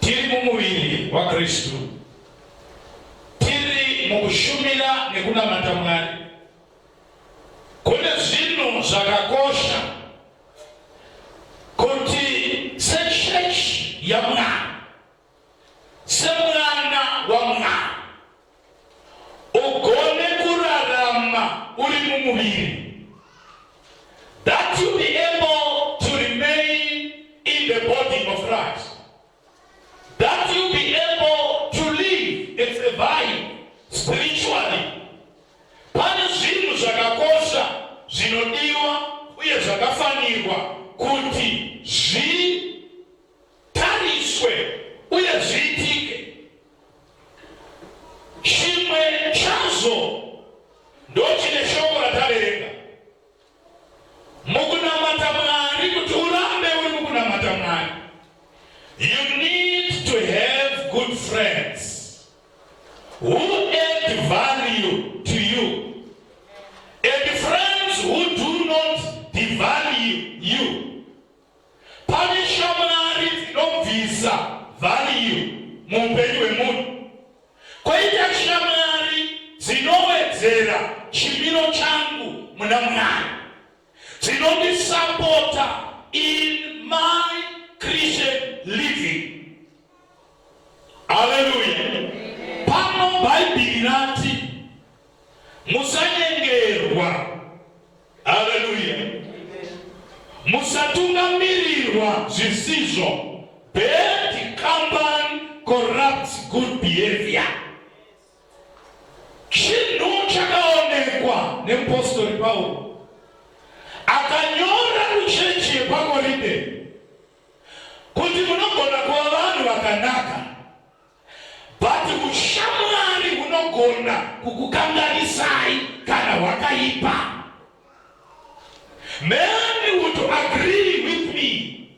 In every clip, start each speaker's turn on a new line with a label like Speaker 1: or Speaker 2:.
Speaker 1: Tiri mumuviri waKristu, tiri mukushumira nekunamata Mwari. Kune zvinhu zvakakosha kuti sechechi yaMwari ugone kurarama uri mumuviri that you be able to remain in the body of Christ that you be able to live and survive spiritually pane zvinhu zvakakosha zvinodiwa uye zvakafanirwa kuti zvi Chimwe chazvo ndochine shoko rataverenga mukunamata Mwari kuti urambe uri mukunamata Mwari. You need to have good friends who add value to you and friends who do not devalue you. Pane shamwari dzinobvisa vhariyu muupenyu hwemunhu, koita shamwari dzinowedzera chimiro changu muna Mwari, dzinondisapota in my Christian living. Haleluya! Pano Bhaibheri rati musanyengerwa. Haleluya. Musatungamirirwa zvisizvo. Bad company corrupts good behavior. Chinhu chakaonekwa nemupostori Pauro akanyora kuchechi yepaKorinde kuti munogona kuva vanhu vakanaka But hushamwari hunogona kukukanganisai kana hwakaipa. Many would agree with me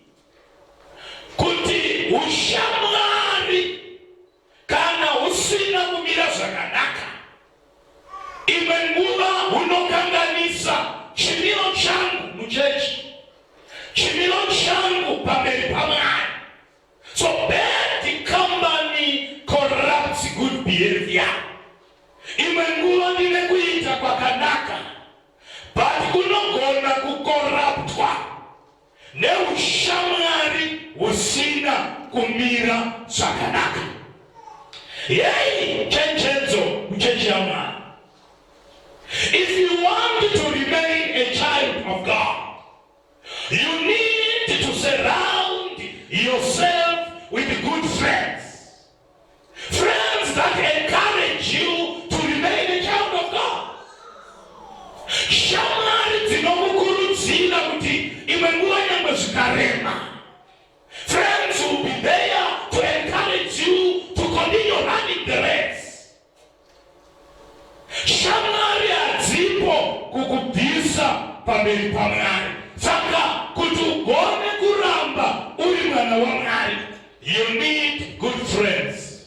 Speaker 1: kuti hushamwari kana husina kumira zvakanaka, imwe nguva hunokanganisa chimiro changu muchechi, chimiro changu pamberi pamwari. So bad company corrupts good behavior. Imwe nguva ndine kuita kwakanaka but kunogona kukoraptwa neushamwari husina kumira zvakanaka. Yei chenjedzo kuchechi yaMwari. If you want to remain a child of God, You need to surround yourself with good friends. Friends that encourage you to remain a child of God. Shamwari dzinokukurudzira kuti imwe nguva nyangwe zvikarema. Shamwari hadzipo kukubvisa pamberi paMwari. Saka kuti ugone kuramba uri mwana waMwari, you need good friends.